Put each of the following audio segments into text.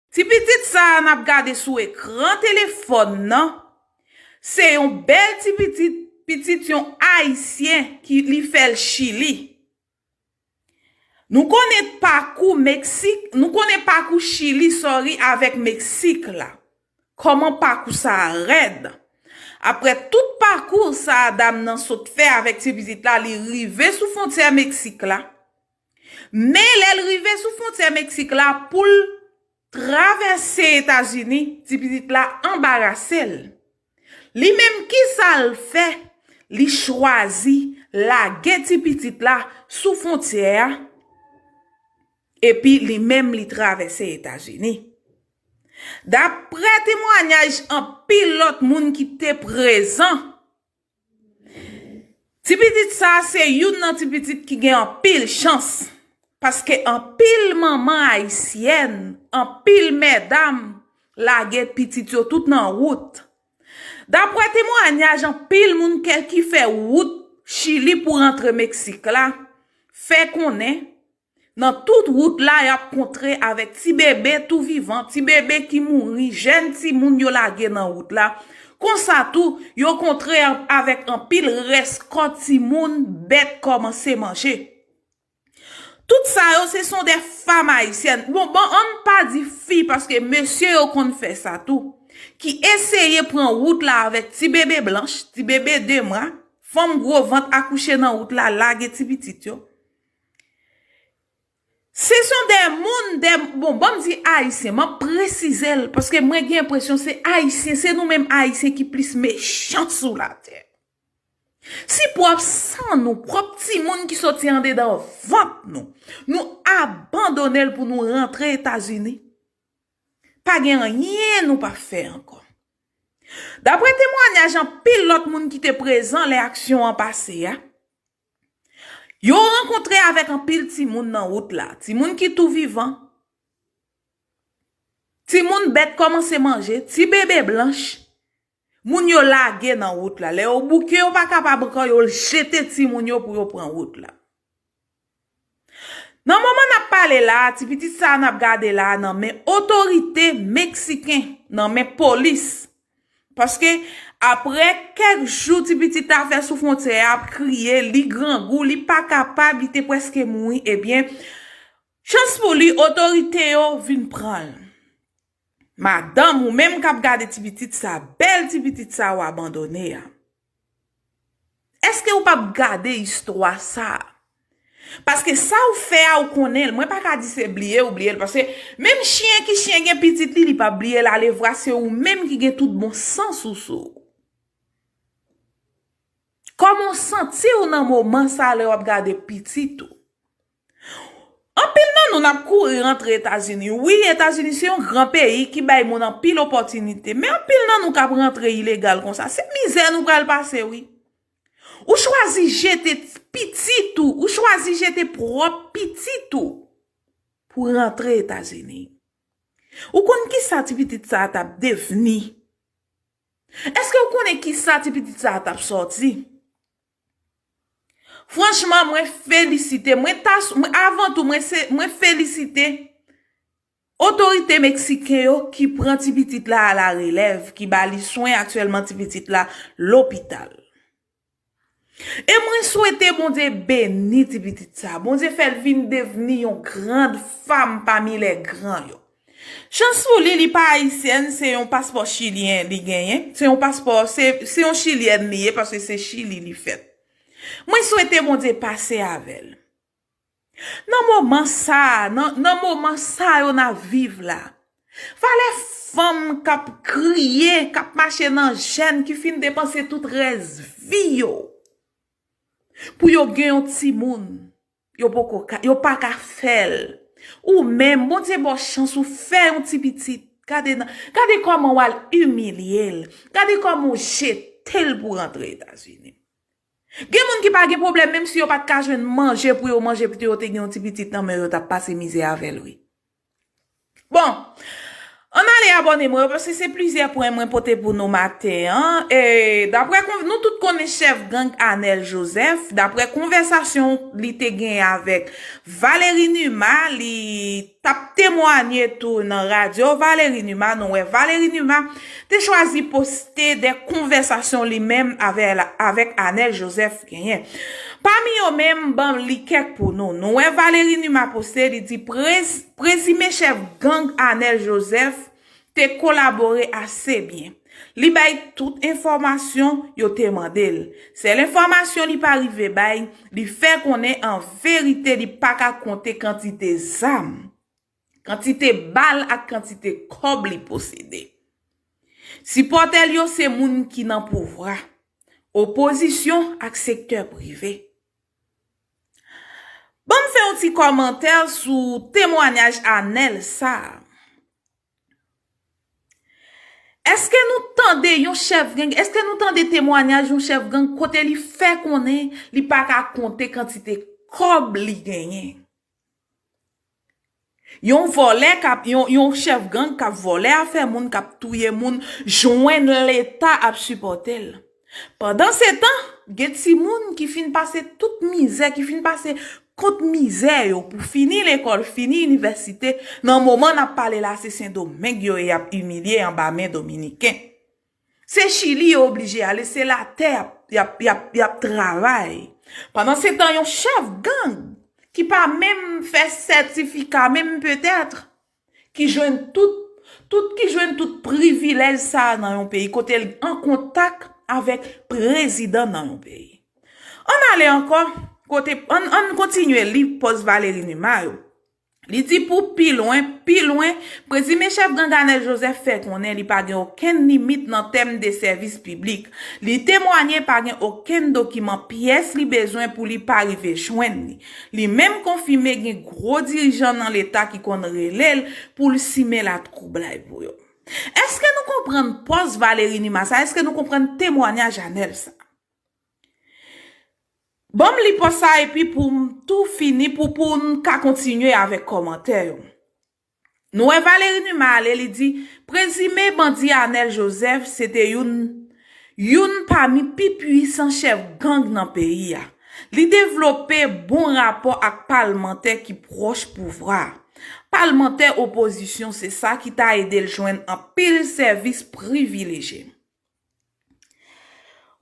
Ti pitit sa a n ap gade sou ekran telefòn nan, se yon bèl ti pitit, pitit yon Ayisyen ki li fè l Chili. Nou konnen pakou Meksik, nou konnen pakou Chili sorry avèk Meksik la. Kòman pakou sa a rèd. Aprè tout pakou sa a dam nan sot fè avèk ti pitit la li rive sou fontyè Meksik la. Men lè l rive sou fwontyè Meksik la pou l travèse Etazini, ti pitit la anbarase l. Li menm kisa l fè? Li chwazi lage ti pitit la sou fwontyè a epi li menm li travèse Etazini. Daprè temwanyaj anpil lòt moun ki te prezan Ti pitit sa se youn nan ti pitit ki gen anpil chans paske anpil manman ayisyèn, anpil mèdam lage pitit yo tout nan wout. Daprè temwanyaj anpil moun ki fè wout chili pou rantre Meksik la fè konnen Nan tout wout la y ap kontre avèk ti bebe tou vivan, ti bebe ki mouri, jèn timoun yo lage nan wout la. Konsa tou, yo kontre avèk anpil rès kò timoun bèt kòmanse manje. Tout sa yo se son de fam ayisyèn, bon bon an n pa di fi paske mesye yo konn fè sa tou, ki eseye pran wout la avèk ti bebe blanch, ti bebe de mwa, fanm gwo vant akouche nan wout la lage ti pitit yo. Se son de moun de bon banm di ayisyen map presize l paske mwen gen enpresyon se ayisyen se nou menm ayisyen ki plis mechan sou latè. Si pwòp san nou pwòp timoun ki soti andedan vant nou nou abandone l pou nou rantre etazini pa gen anyen nou pa fè ankò. Daprè temwanyaj anpil lòt moun ki te prezan lè aksyon an pase a. Yo rankontre avèk anpil timoun nan wout la. Timoun ki tou vivan. Timoun bèt kòmanse manje. Ti bebe blanch. Moun yo lage nan wout la. Lè yo bouke yo pa kapab ankò yo jete timoun yo pou yo pran wout la. Nan moman nap pale la a, ti pitit sa a nap gade la a nan men otorite Meksiken, nan men polis. Paske apre kèk jou ti pitit la fè sou fwontyè a ap kriye, li grangou, li pa kapab, li te preske mouri, ebyen chans pou li otorite yo vin pran l. Madanm, ou menm kap gade ti pitit sa, bèl ti pitit sa ou abandone a. Eske ou pap gade istwa sa? Paske sa ou fè a ou konnen l. Mwen pa ka di se bliye ou bliye l. Paske menm chyen ki chyen gen pitit li, li pap bliye l alevwa se ou menm ki gen tout bon sans ou sou ou. Kòman ou santi ou nan moman sa lè wap gade pitit ou? Anpil nan nou nap kouri rantre etazini wi etazini se yon gran peyi ki bay moun anpil opotinite men anpil nan nou kap rantre ilegal konsa se mizè nou pral pase wi ou chwazi jete pitit ou ou chwazi jete prop pitit ou pou rantre etazini ou konn kisa ti pitit sa tap devni eske ou konnen kisa ti pitit sa tap soti. Franchman mwen felisite, mwen ta, avan tou mwen se, mwen felisite otorite Meksiken yo ki pran ti pitit la a la relèv, ki ba li swen aktyèlman ti pitit la lopital. E mwen swete Bondye beni ti pitit sa, Bondye fè l vin devni yon grand fam pami lè gran yo. Chans pou li li pa ayisyèn se yon paspò chilyen li genyen se yon paspò se yon chilyèn li ye paske se chili li fèt mwen swete Bondye pase avèl nan moman sa nan moman sa yo nap viv la valè fanm kap kriye kap mache nan jèn ki fin depanse tout rès vi yo pou yo gen yon timoun. Yo poko ka, yo pa ka fèl. Ou menm, Bondye baw chans ou fè yon ti pitit. Gade nan, gade kòman wal imilyel. Gade kòman ou jetel pou rantre Etazini. Gen moun ki pa gen pwoblèm menm si yo pat ka jwenn manje pou yo manje pito yo te gen yon ti pitit nan menw yo tap pase mizè avèl wi. Bon, an n ale abòne mwen yo paske se plizyè pwen mwen pote pou nou maten an. Daprè konv, nou tout konnen chèf gang Anèl Jozèf, daprè konvèsasyon li te genyen avèk Valeri Numa, li t ap temwanye tou nan radyo Valeri Numa, nou wè Valeri Numa, te chwazi poste de konvèsasyon li menm avèk Anèl Joseph genyen. Pami yo men m ban li kèk pou nou. Nou wè Valery Numa poste li di prezime chèf gang Anèl Joseph te kolabore ase byen. Li bay tout enfòmasyon yo te mande l. Sèl enfòmasyon li pa rive bay, li fè konnen an verite li pa ka konte kantite zam. Kantite bal ak kantite kòb li posede. Sipòtè l yo se moun ki nan pouvwa, opozisyon ak sektè prive. Ban m fè yon ti kòmantè sou temwanyaj Anèl sa a. Eske nou tande yon chèf gang, eske nou tande temwanyaj yon chèf gang kote li fè konnen li pa ka konte kantite kòb li genyen? Yon vòlè kap yon chèf gang kap vòlè afè moun kap touye moun jwenn leta ap sipòtel pandan se tan gen timoun ki fin pase tout mizè ki fin pase kont mizè yo pou fini lekòl fini inivèsite nan moman nap pale la se sendomeng yo ye yap imilye anba men dominiken. Se chili yo oblije ale se la tè yap travay. Pandan se tan yon chèf gang ki pa menm fè sètifika menm petèt ki jwenn tout ki jwenn tout privilèj sa a nan yon peyi kote l an kontak avèk prezidan nan yon peyi. An n ale ankò kote an n kontinye li pòz Valéry Numa yo. Li di pou pi lwen, pi lwen, prezime chèf gang Anèl Jozèf fè konnen li pa gen okenn limit nan tèm de sèvis piblik. Li temwanye pa gen okenn dokiman pyès li bezwen pou li pa rive jwenn li. Li menm konfime gen gwo dirijan nan leta ki konn rele l pou l simen latwoublay pou yo. Eske nou konprann pòz Valery Numa sa? Eske nou konprann temwanyaj Anèl sa? Banm li pòs sa epi poum tou fini pou poun ka kontinye avèk kòmantè yo. Nou wè Valery Numa ale li di prezime bandi Anel Joseph se te youn youn pami pi pwisan chèf gang nan peyi a. Li devlope bon rapò ak palmantè ki pwòch pouvwa. Palmantè opozisyon se sa ki ta edel jwenn anpil sèvis privileje.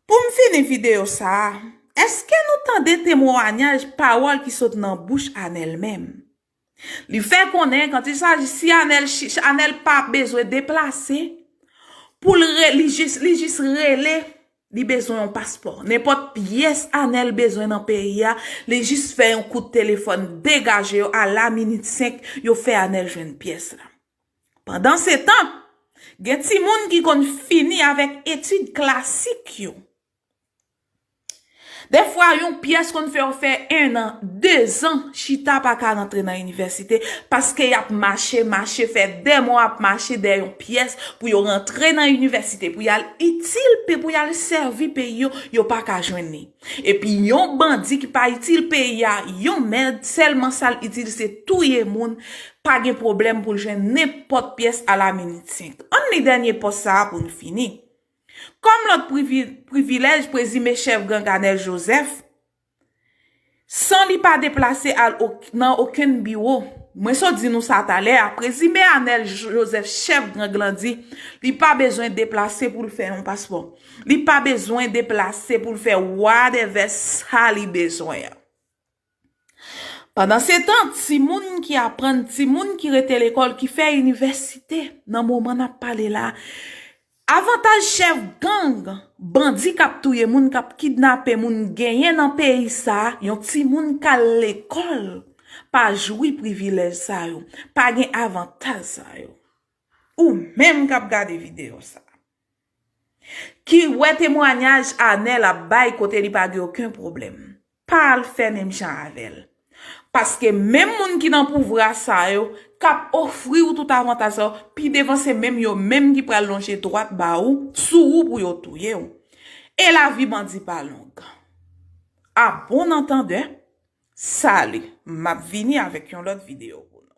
Pou m fini videyo sa a, èske nou tande temwanyaj pawòl ki sot nan bouch Anèl menm? Li fè konnen kan ti saji si Anèl, Anèl pa bezwen deplase pou l re, li jis, li jis rele, li bezwen yon paspò. Nenpòt pyès Anèl bezwen nan peyi a, li jis fè yon kout telefòn degaje yo a la minit senk yo fè Anèl jwenn pyès la. Pandansetan, gen timoun ki konn fini avèk etid klasik yo. Dèfwa, yon pyès konn fè yo fè ennan, dezan chita pa ka rantre nan inivèsite paske y ap mache, mache, fè de mwa ap mache dèyè yon pyès pou yo rantre nan inivèsite, pou y al itil, pou y al sèvi peyi yo, yo pa ka jwenn li. Epi yon bandi ki pa itil peyi a yon mèd sèlman sal itil se touye moun pa gen pwoblèm pou l jwenn nenpòt pyès a la minit senk. Ann li dènye pòs sa a pou n fini. Kòm lòt privilèj prezime chèf gang Anèl Jozèf san li pa deplase al nan okenn biwo mwen sot di nou sa talè a prezime Anèl Jozèf chèf gang lan di li pa bezwen deplase pou l fè yon paspò. Li pa bezwen deplase pou l fè wadèvè sa li bezwen an. Pandansetan, timoun ki aprann, timoun ki rete lekòl, ki fè inivèsite nan moman n ap pale la, avantaj chèf gang, bandi k ap touye moun, k ap kidnape moun genyen nan peyi sa, yon timoun k al lekòl pa jwi privilèj sa yo, pa gen avantaj sa yo. Ou menm k ap gade videyo sa. Ki wè temwanyaj Anel ap bay kote li pa gen oken pwoblèm. Pa al fè menm jan avè l. Paske menm moun ki nan pouvra sa yo, k ap ofri ou tout avantaj sa yo, pi devan se menm yo menm ki pral lonje dwat ba ou, sou ou pou yo touye ou. E lavi bandi pa long. A bon antandè, Salut! M ap vini avèk yon lòt videyo pou nou.